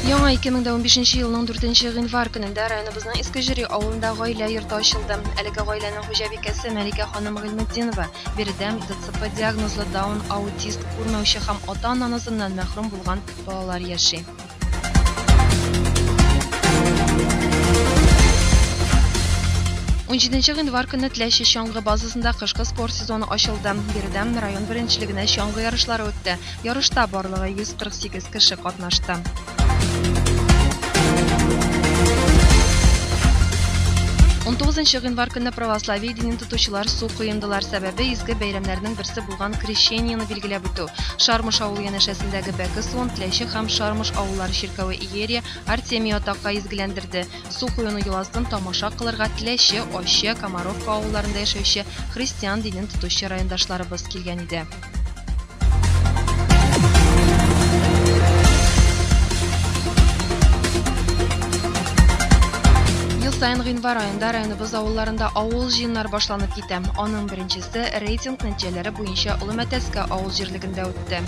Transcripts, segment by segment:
Яңа 2015 елның 4 гыйнвар көнендә районыбызның Иске Җөри авылында гаилә йорты ачылды. Әлеге гаиләнең хуҗабикәсе Мәликә ханым Гыйлметдинова биредәм ДЦП диагнозлы даун аутист күрмәүче һәм ата-ана назыннан мәхрүм булган балалар яши. Унҗиденче гыйнвар көнне Теләче чаңгы базасында кышкы спорт сезоны ачылды. Биредән район беренчелегенә чаңгы ярышлары үтте. Ярышта барлыгы 148 кеше катнашты. Унтугызынчы гыйнвар көнне православие динен тотучылар су коендылар, сәбәбе изге бәйрәмнәрнең берсе булган Крещениены билгеләп үтү, Шармыш авылы янәшәсендәге Бәке суын Теләче һәм Шармыш авыллары чиркәве иерия Артемий атакай изгеләндерде, су коену йоласын тамаша кылырга Теләче, Ачы, Комаровка авылларында яшәүче христиан динен тотучы райондашларыбыз килгән иде. Ел саен гыйнвар аенда районыбыз авылларында авыл җыеннары башланып китә, аның беренчесе Т рейтинг нәтиҗәләре буенча Олы Мәтәскә авыл җирлегендә үтте.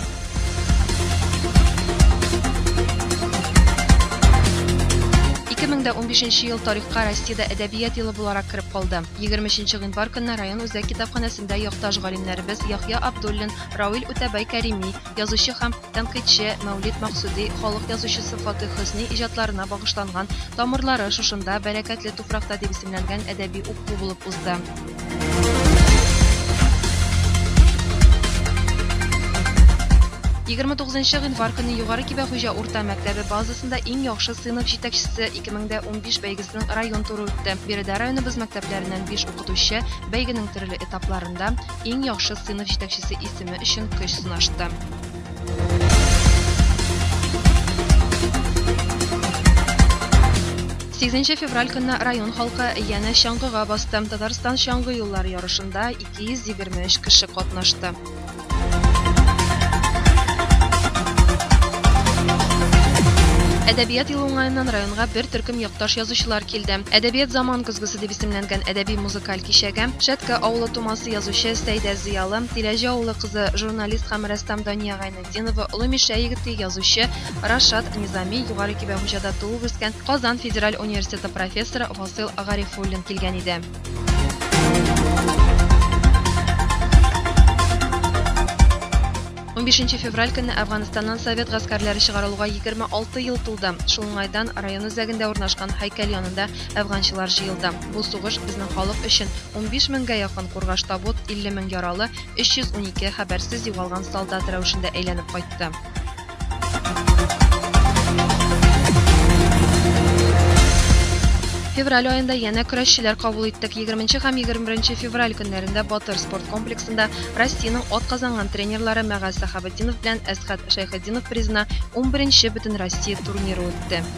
Ике мең дә унбишенче ел тарихка Россиядә әдәбият елы буларак кереп калды. Егерме өченче гыйнвар көнне район үзәк китапханәсендә якташ галимнәребез Яхъя Абдуллин, Рауил Үтәбай Кәрими, язучы һәм тәнкыйтьче Мәүлид Максуди халык язучысы Фатыйх Хөсни иҗатларына багышланган Тамырлары шушында, бәрәкәтле туфракта дип исемләнгән әдәби уку булып узды. Егерме тугызынчы гыйнвар көнне Югары Кибәхуҗа урта мәктәбе базасында иң яхшы сыйныф җитәкчесе 2015 бәйгесенең район туры үтте. Биредә районыбыз мәктәпләреннән биш укытучы бәйгенең төрле этапларында, иң яхшы сыйныф җитәкчесе исеме өчен көч сынашты. Сигезенче февраль көнне район халкы янә чаңгыга басты. Татарстан чаңгы юллары ярышында 223 кеше катнашты. Әдәбият елы уңаеннан районга бер төркем якташ язучылар килде. Әдәбият заман көзгесе дип исемләнгән әдәби-музыкаль Каль кичәге, Шәткә авылы тумасы язучы Сәйдә Зыялы, Тиләҗе авылы кызы, журналист һәм рәссам Дания Гайнетдинова, Олы Мишә егете, язучы Рашат Низами, Югары Кибәхуҗада туып-үскән Казан федераль университеты профессоры Васыйл Гарифуллин килгән иде. Унбишенче февраль көнне Әфганстаннан совет гаскәрләре чыгарылуга 26 ел тулды. Шул уңайдан район үзәгендә урнашкан һәйкәл янында әфганчылар җыелды. Бу сугыш безнең халык өчен, унбиш меңгә якын кургаш табут, илле мең яралы, өч йөз унике хәбәрсез югалган солдат рәвешендә әйләнеп кайтты. Февраль аенда янә көрәшчеләр кабул иттек. 20 һәм 21 февраль көннәрендә Батыр спорт комплексында Россиянең атказанган тренерлары Мәгаз Сәхабетдинов белән Әсхәт Шәйхетдинов призына 11 нче Бөтенроссия турниры үтте.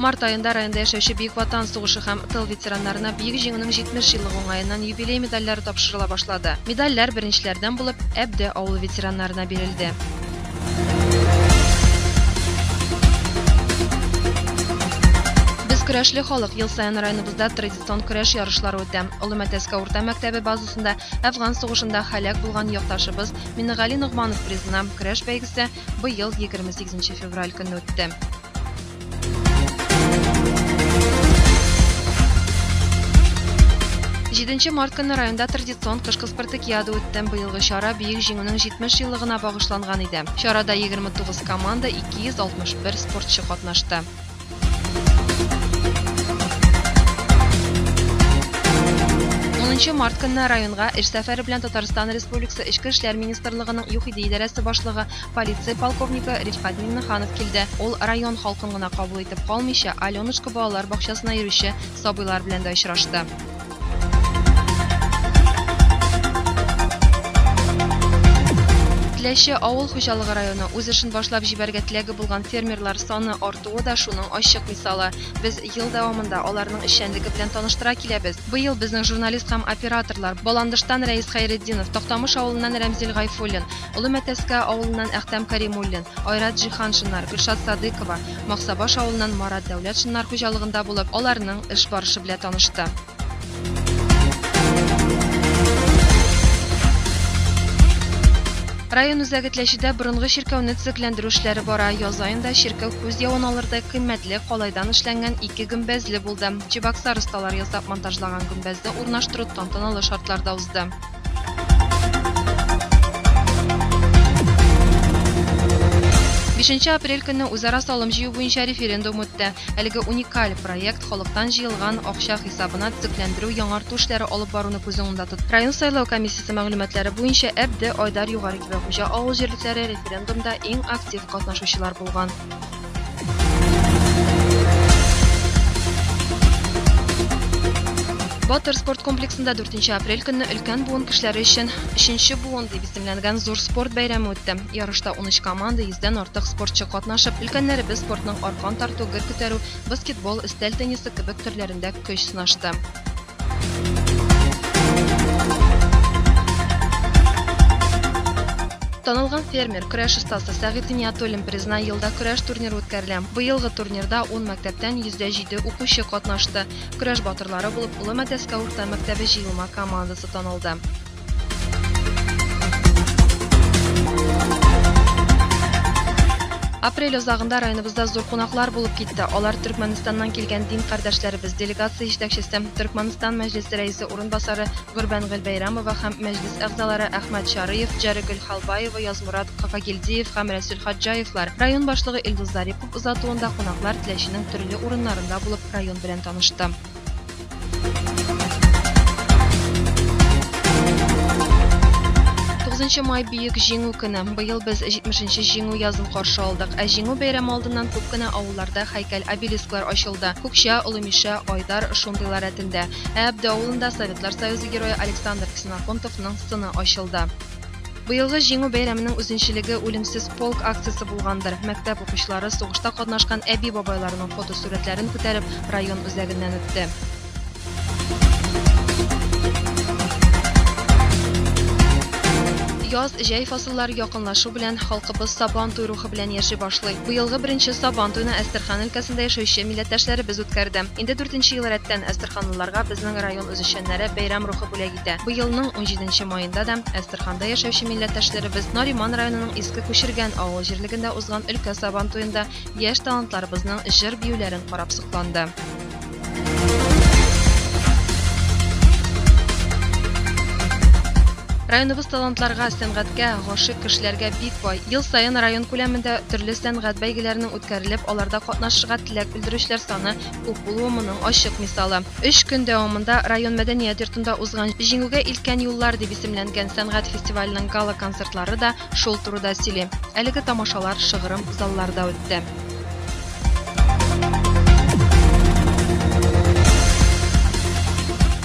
Март айында районда яшәүче Бөек Ватан сугышы һәм тыл ветераннарына Бөек Җиңүнең 70 еллыгы уңаеннан юбилей медальләре тапшырыла башлады. Медальләр беренчеләрдән булып Әбде авылы ветераннарына бирелде. Без көрәшле халык ел саен районыбызда традицион көрәш ярышлары үтә. Олы Мәтәскә урта мәктәбе базасында Әфган сугышында һәлак булган якташыбыз Миннегали Ногманов призына көрәш бәйгесе быел 28 февраль көнне үтте. Җиденче март көнне районда традицион кышкы спартакиада үтте. Быелгы чара Бөек Җиңүнең 70 еллыгына багышланган иде. Чарада 29 команда, 261 спортчы катнашты. Унынчы март көнне районга эш сәфәре белән Татарстан Республикасы Эчке эшләр министрлыгының ЮХИДИ идарәсе башлыгы, полиция полковнигы Рифкат Миңнеханов килде. Ул район халкын гына кабул итеп калмыйча, Аленушка балалар бакчасына йөрүче сабыйлар белән дә очрашты. Теләче авыл хуҗалыгы районы үз эшен башлап җибәргә теләге булган фермерлар саны артуы да шуның ачык мисалы. Без ел дәвамында аларның эшчәнлеге белән таныштыра киләбез. Быел безнең журналист һәм операторлар Баландыштан Рәис Хәйретдинов, Тактамыш авылыннан Рәмзил Гайфуллин, Олы Мәтәскә авылыннан Әхтәм Кәримуллин, Айрат Җиһаншиннар, Гөлшат Садыйкова, Максабаш авылыннан Марат Дәүләтшиннар хуҗалыгында булып, аларның эш барышы белә танышты. Район үзәге Тләчедә борынгы чиркәүне төзекләндерү эшләре бара. Яз аенда чиркәү күз явын алырдай кыйммәтле калайдан эшләнгән ике гөмбәзле булды. Чебоксар осталары ясап монтажлаган гөмбәзне урнаштыру тантаналы шартларда узды. Бишенче апрель көнне үзара салым җыю буенча референдум үтте. Әлеге уникаль проект халыктан җыелган акча хисабына төзекләндерү, яңарту эшләре алып баруны күз уңында тотты. Район сайлау комиссиясе мәгълүматлары буенча, Әбде, Айдар, Югары Кибәхуҗа авыл җирлекләре референдумда иң актив катнашучылар булган. Батыр спорт комплексында 4 апрель көнне өлкән буын кешеләре өчен 3 буын дип исемләнгән зур спорт бәйрәме үтте. Ярышта 13 команда, 100дән артык спортчы катнашып, өлкәннәребез спортның аркан тарту, гер күтәрү, баскетбол, өстәл теннисы кебек төрләрендә көч сынашты. Танылган фермер, көрәш остасы Сәгыйть Гыйниятуллин призына елда көрәш турниры үткәрелә. Быелгы турнирда 10 мәктәптән 107 укучы катнашты. Көрәш батырлары булып Олы Мәтәскә урта мәктәбе җыелма командасы танылды. Апрель озагында районыбызда зур кунаклар булып китте. Алар Төркмәнстаннан килгән дин кардәшләребез, делегация җитәкчесе, Төркмәнстан мәҗлесе рәисе урынбасары Гөрбән Гөлбәйрамова һәм мәҗлес әгъзалары Әхмәт Чарыев, Җәрегөл Халбаева, Язмурат Кафагилдиев һәм Рәсүл Хаҗҗаевлар. Район башлыгы Илдус Зарипов озатуында кунаклар Теләченең төрле урыннарында булып район белән танышты. Тугызынчы май бөек җиңү көне. Быел без 70-нче җиңү язын каршы алдык. Ә җиңү бәйрәме алдыннан күп кенә авылларда һәйкәл-обелисклар ачылды. Күкчә, Олымиша, Айдар шундыйлар рәтендә. Ә Әбде авылында Советлар Союзы Герое Александр Ксеноконтовның сыны ачылды. Быелгы Җиңү бәйрәменең үзенчелеге Үлемсез полк акциясе булгандыр. Мәктәп укучылары сугышта катнашкан әби-бабайларының фотосурәтләрен күтәреп, район үзәгеннән үтте. Яз, җәй фасыллары якынлашу белән халкыбыз Сабан туй рухы белән яши башлый. Быелгы беренче Сабан туйны Әстерхан өлкәсендә яшәүче милләттәшләребез үткәрде. Инде дүртенче ел рәттән әстерханлыларга безнең район үзешчәннәре бәйрәм рухы бүләк Әлбәттә, быелның унҗиденче маенда да Әстерханда яшәүче милләттәшләребез Нариман районының Иске Күчергән авыл җирлегендә узган өлкә Сабантуенда яшь талантларыбызның җыр-биюләрен карап сокланды. Районыбыз талантларга, сәнгатькә гашык кешеләргә бик бай. Ел саен район күләмендә төрле сәнгать бәйгеләренең үткәрелеп, аларда катнашырга теләк белдерүчеләр саны Күп булуы моның ачык мисалы. Өч көн дәвамында район мәдәният йортында узган Җиңүгә илткән юллар дип исемләнгән сәнгать фестиваленең гала-концертлары да шул турыда сөйли. Әлеге тамашалар шыгрым залларда үтте.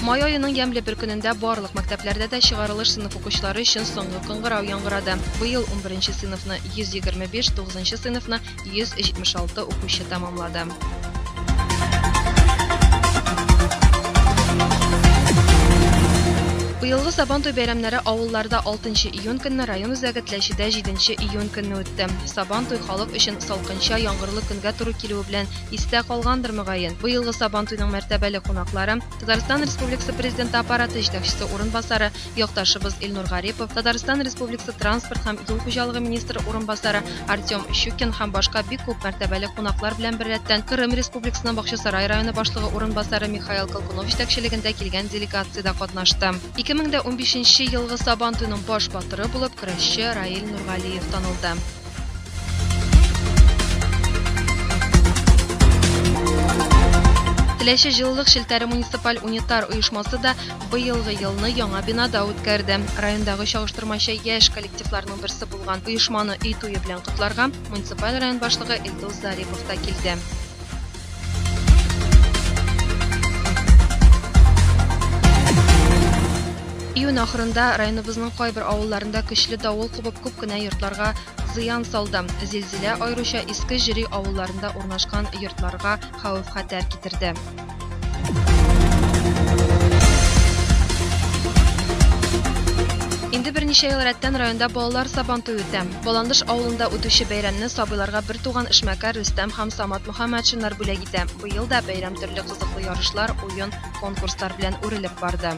Май аеның ямьле бер көнендә барлык мәктәпләрдә дә чыгарылыш сыйныф укучылары өчен соңгы кыңгырау яңгырады. Быел 11 сыйныфны 125, 9 сыйныфны 176 укучы тәмамлады. Быелгы Сабантуй бәйрәмнәре авылларда 6 июнь көнне район үзәге Тләчедә 7 июнь көнне үтте. Сабантуй халык өчен салкынча, яңгырлы көнгә туры килүе белән истә калгандыр мөгаен. Быелгы Сабантуйның мәртәбәле кунаклары Татарстан Республикасы Президенты Аппараты җитәкчесе урынбасары якташыбыз Илнур Гарипов, Татарстан Республикасы транспорт һәм юл хуҗалыгы министры урынбасары Артем Щукин һәм башка бик күп мәртәбәле кунаклар белән беррәттән Кырым Республикасының Бакчасарай районы башлыгы урынбасары Михаил Колкунов җитәкчелегендә килгән делегация дә катнашты. 2015 елгы Сабантуйның баш батыры булып көрәшче Раил Нургалиев танылды. Теләче җылылык челтәре муниципаль унитар оешмасы да быелгы елны яңа бинада үткәрде. Райондагы чагыштырмача яшь коллективларның берсе булган оешманы өй туе белән котларга муниципаль район башлыгы Илдус Зарипов та килде. Июнь ахырында районыбызның кайбер авылларында көчле давыл кубып күп кенә йортларга зыян салды. Зилзилә аеруча иске җири авылларында урнашкан йортларга хәвеф-хәтәр китерде. Инде берничә ел рәттән районда балалар сабантуе үтә. Баландыш авылында үтүче бәйрәмне сабыйларга бертуган эшмәкәр Рөстәм һәм Самат Һәм матчыннар бүләк итә. Быел да бәйрәм төрле кызыклы ярышлар, уен, конкурслар белән үрелеп барды.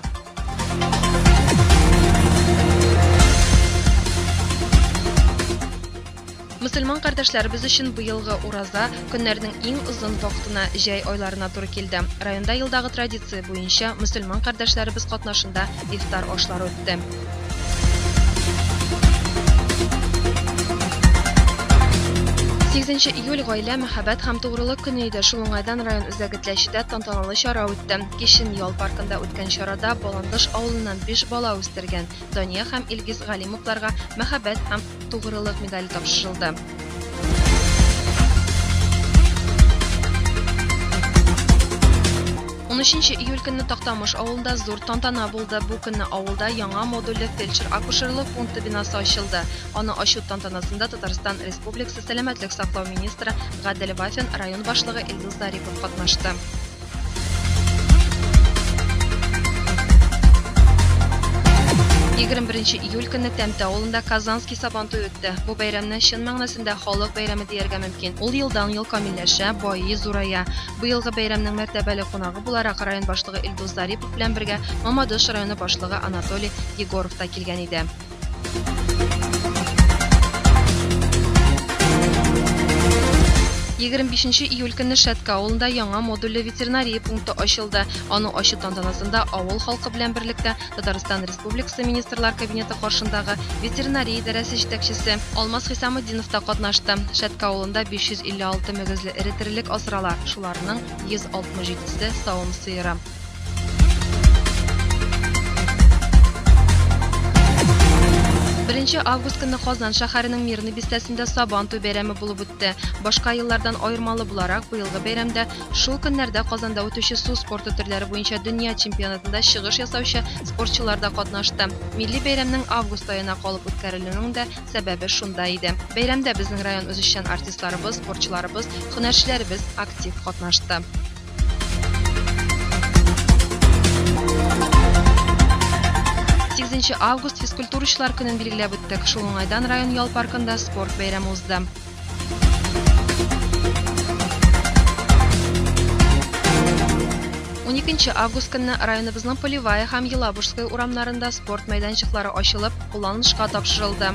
Мөселман кардәшләребез өчен быелгы Ураза көннәрнең иң озын вакытына, җәй айларына туры килде. Районда елдагы традиция буенча мөселман кардәшләребез катнашында ифтар ашлары үтте. Сигезенче июль гаилә, мәхәббәт һәм тугрылык көне иде. Шул уңайдан район үзәге Тләчедә тантаналы чара үтте. Кичен ял паркында үткән чарада Баландыш авылыннан биш бала үстергән Дания һәм Илгиз Галимовларга мәхәббәт һәм тугрылык медале тапшырылды. 13 июль көнне Тактамыш авылында зур тантана булды. Бу көнне авылда яңа модульле фельдшер-акушерлык пункты бинасы ачылды. Аны ачу тантанасында Татарстан Республикасы сәламәтлек саклау министры Гадел Вафин, район башлыгы Илдус Зарипов катнашты. Егерме беренче июль көнне Тәмтә авылында Казанский сабан туе үтте. Бу бәйрәмне чын мәгънәсендә халык бәйрәме дияргә мөмкин. Ул елдан ел камилләшә, байый, зурая. Быелгы бәйрәмнең мәртәбәле кунагы буларак район башлыгы Илдус Зарипов белән бергә Мамадыш районы башлыгы Анатолий Егоров та килгән иде. Егерме бишенче июль көнне Шәткә авылында яңа модульле ветеринария пункты ачылды. Аның ачу тантанасында авыл халкы белән берлектә Татарстан Республикасы Министрлар Кабинеты каршындагы ветеринария идарәсе җитәкчесе Алмаз Хисаметдинов та катнашты. Шәткә авылында 556 мөгезле эре терелек асрала, шуларның 167 се савым сыеры. Беренче август көнне Казан шәһәренең Мирный бистәсендә Сабан туй бәйрәме булып үтте. Башка еллардан аермалы буларак, быелгы бәйрәмдә шул көннәрдә Казанда үтүче су спорты төрләре буенча дөнья чемпионатында чыгыш ясаучы спортчылар да катнашты. Милли бәйрәмнең август аена калып үткәрелүенең дә сәбәбе шунда иде. Бәйрәмдә безнең район үзешчән артистларыбыз, спортчыларыбыз, һөнәрчеләребез актив катнашты. Сигезенче август физкультурачылар көнен билгеләп үттек. Шул уңайдан район ял паркында спорт бәйрәме узды. Уникенче август көнне районыбызның Полевая һәм Елабужская урамнарында спорт мәйданчыклары ачылып, кулланылышка тапшырылды.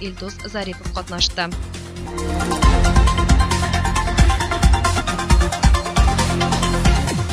Илдус Зарипов катнашты.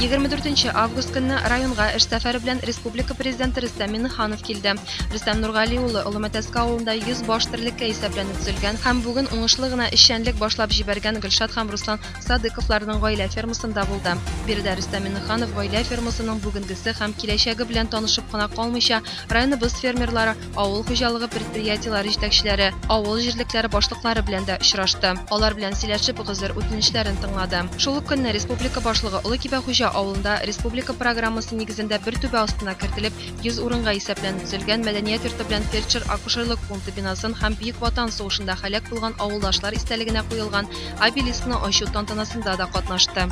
Егерме дүртенче август көнне районга эш сәфәре белән республика президенты Рөстәм Миннеханов килде. Рөстәм Нургали улы Олымәтәскә авылында 100 баш терлеккә исәпләнеп төзелгән һәм бүген уңышлы гына эшчәнлек башлап җибәргән Гөлшат һәм Руслан Садыковларның гаилә фермасында булды. Биредә Рөстәм Миннеханов гаилә фермасының бүгенгесе һәм киләчәге белән танышып кына калмыйча, районыбыз фермерлары авыл хуҗалыгы предприятиеләре җитәкчеләре, авыл җирлекләре башлыклары белән дә очрашты. Алар белән сөйләшеп, гозер үтенечләрен тыңлады. Шул ук көнне республика башлыгы Олы Кибәхуҗа авылында республика программасы нигезендә бер түбә астына кертелеп, 100 урынга исәпләнеп төзелгән мәдәният йорты белән фельдшер-акушерлык пункты бинасын һәм Бөек Ватан сугышында һәлак булган авылдашлар истәлегенә куелган обелискны ачу тантанасында да катнашты.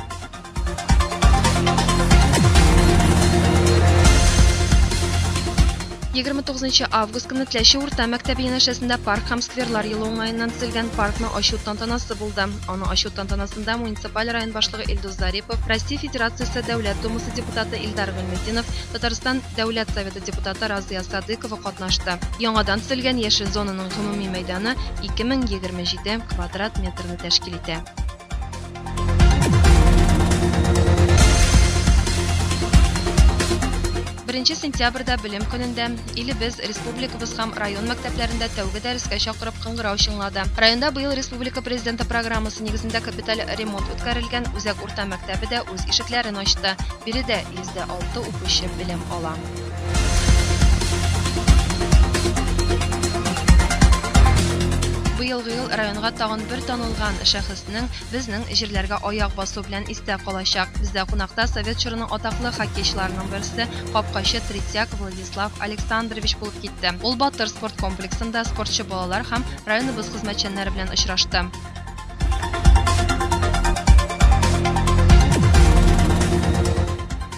Егерме тугызынчы август көне Тләче урта мәктәбе янәшәсендә парк һәм скверлар елы уңаеннан төзелгән паркны ачу тантанасы булды. Аны ачу тантанасында муниципаль район башлыгы Илдус Зарипов, Россия Федерациясе Дәүләт Думасы депутаты Илдар Гыйльметдинов, Татарстан Дәүләт Советы депутаты Разыя Садыкова катнашты. Яңадан төзелгән яшел зонаның гомуми мәйданы 2027 квадрат метрны тәшкил итә. Беренче сентябрьдә белем көнендә илебез, республикабыз һәм район мәктәпләрендә тәүге дәрескә чакырып кыңгырау чыңлады. Районда быел республика президенты программасы нигезендә капиталь ремонт үткәрелгән үзәк урта мәктәбе дә үз ишекләрен ачты. Биредә 106 укучы белем ала. Быелгы ел районга тагын бер танылган шәхеснең безнең җирләргә аяк басу белән истә калачак. Бездә кунакта совет чорының атаклы хоккейчыларының берсе, капкачы Третьяк Владислав Александрович булып китте. Ул Батыр спорт комплексында спортчы балалар һәм районыбыз хезмәтчәннәре белән очрашты.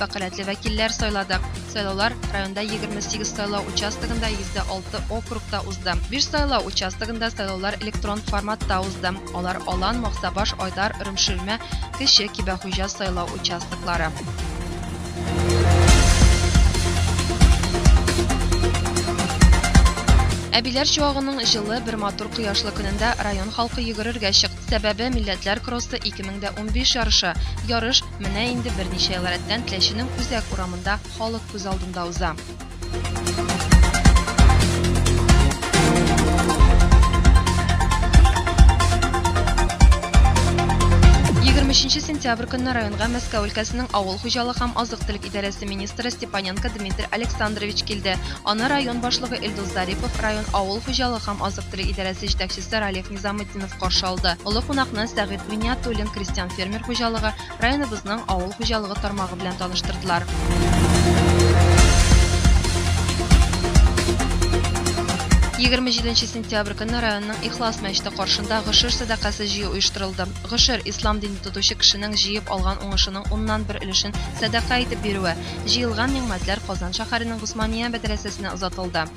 вәкаләтле вәкилләр сайладык. Сайлаулар районда 28 сайлау участогында 106 округта узды. 5 сайлау участогында сайлаулар электрон форматта узды. Алар Алан, Максабаш, Айдар, Ромширмә, Кече Кибәхуҗа сайлау участоклары. Әбиләр чуагының җылы бер матур кояшлы көнендә район халкы йөгерергә чыкты. Сәбәбе, Милләтләр кроссы 2015 ярышы, ярыш менә инде берничә ел рәттән Теләченең Үзәк урамында халык күз алдында уза. Егерме өченче сентябрь көнне районга Мәскәү өлкәсенең авыл хуҗалык һәм азык-төлек идарәсе министры Степаненко Дмитрий Александрович килде. Аны район башлыгы Илдус Зарипов, район авыл хуҗалык һәм азык-төлек идарәсе җитәкчесе Ралиф Замытдинов каршы алды. Олы кунакны Сәгыйть Гыйниятуллин крестьян фермер хуҗалыгы, районыбызның авыл хуҗалыгы тармагы белән таныштырдылар. Егерме җиденче сентябрь көнне районның Ихлас мәчете каршында гошер сәдакасы җыю оештырылды. Гошер, ислам динен тотучы кешенең җыеп алган уңышының уннан бер өлешен сәдака итеп бирүе. Җыелган нигъмәтләр Казан шәһәренең Госмания мәдрәсәсенә озатылды.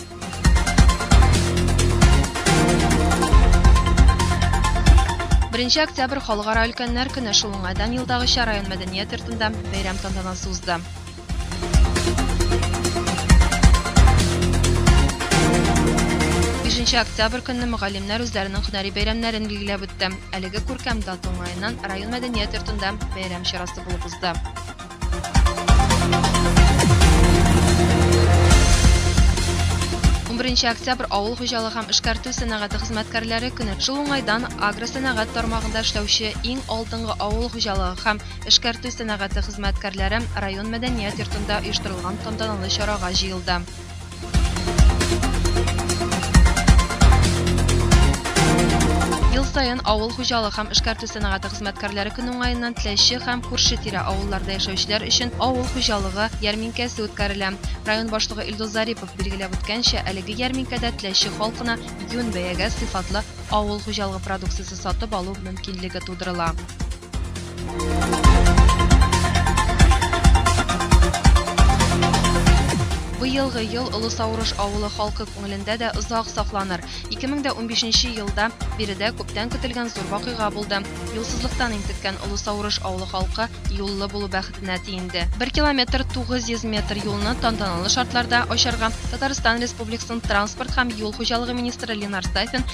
Беренче октябрь халыкара өлкәннәр көне шул уңайдан елдагыча район мәдәният йортында бәйрәм тантанасы узды. Бишенче октябрь көнне мөгаллимнәр үзләренең һөнәри бәйрәмнәрен билгеләп үтте. Әлеге күркәм дата уңаеннан район мәдәният йортында бәйрәм чарасы булып узды. Унберенче октябрь авыл хуҗалыгы һәм эшкәртү сәнәгате хезмәткәрләре көне. Шул уңайдан агросәнәгать тармагында эшләүче иң алдынгы авыл хуҗалыгы һәм эшкәртү сәнәгате хезмәткәрләре район мәдәният йортында оештырылган тантаналы чарага җыелды. Ел саен авыл хуҗалык һәм эшкәртү сәнәгате хезмәткәрләре көне уңаеннан Теләче һәм күрше-тирә авылларда яшәүчеләр өчен авыл хуҗалыгы ярминкәсе үткәрелә. Район башлыгы Илдус Зарипов билгеләп үткәнчә, әлеге ярминкәдә Теләче халкына юнь бәягә сыйфатлы авыл хуҗалыгы продукциясе сатып алу мөмкинлеге тудырыла. Быелгы ел Олы Саурыш авылы халкы күңелендә дә озак сакланыр. 2015 елда биредә күптән көтелгән зур вакыйга булды. Юлсызлыктан интеккән Олы Саурыш авылы халкы юллы булу бәхетенә тиенде. 1 километр 900 метр юлны тантаналы шартларда ачарга Татарстан Республикасының транспорт һәм юл хуҗалыгы министры Ленар Сафин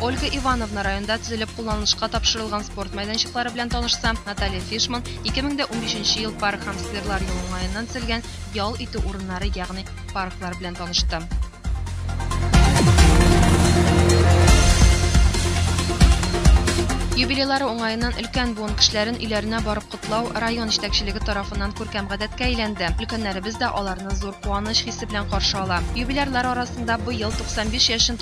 Ольга Ивановна районда төзелеп кулланылышка тапшырылган спорт мәйданчыклары белән танышса, Наталья Фишман, 2015 нче ел Парк һәм скверлар юлы уңаеннан төзелгән ял итү урыннары, ягъни парклар белән танышты. Юбилейлары уңаеннан өлкән буын кешеләрен өйләренә барып котлау район җитәкчелеге тарафыннан күркәм гадәткә әйләнде. Өлкәннәребез дә аларны зур куаныч хисе белән каршы ала. Юбилярлар арасында быел 95 яшен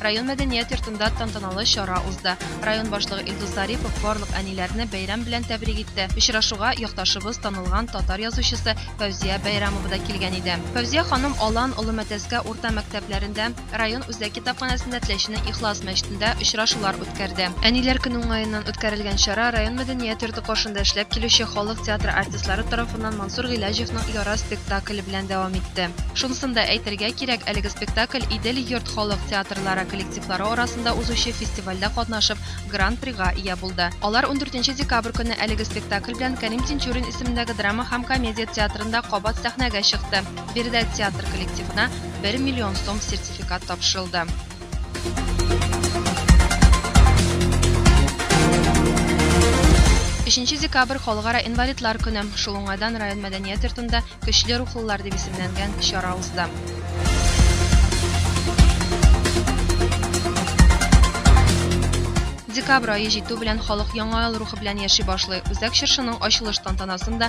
Район мәдәният йортында тантаналы чара узды. Район башлыгы Илдус Зарипов барлык әниләрне бәйрәм белән тәбрик итте. Очрашуга якташыбыз, танылган татар язучысы Фәүзия Бәйрәмова да килгән иде. Фәүзия ханым Алан, Олы Мәтәскә урта мәктәпләрендә, район үзәк китапханәсендә Теләченең Ихлас мәчетендә очрашулар үткәрде. Әниләр көне уңаеннан үткәрелгән чара район мәдәният йорты каршында эшләп килүче халык театры артистлары тарафыннан Мансур Гыйләҗевның Яра спектакле концерт белән дәвам итте. Шунысын да әйтергә кирәк, әлеге спектакль Идел йорт халык театрлары коллективлары арасында узучы фестивальдә катнашып, Гран-прига ия булды. Алар ундүртенче декабрь көнне әлеге спектакль белән Кәрим Тинчурин исемендәге драма һәм комедия театрында кабат сәхнәгә чыкты. Биредә театр коллективына бер миллион сум сертификат тапшырылды. Бишенче декабрь Халыкара инвалидлар көне. Шул уңайдан район мәдәният йортында Көчле рухлылар дип исемләнгән чара узды. Декабрь ае җитү белән халык Яңа ел рухы белән яши башлый. Үзәк чыршының ачылыш тантанасын да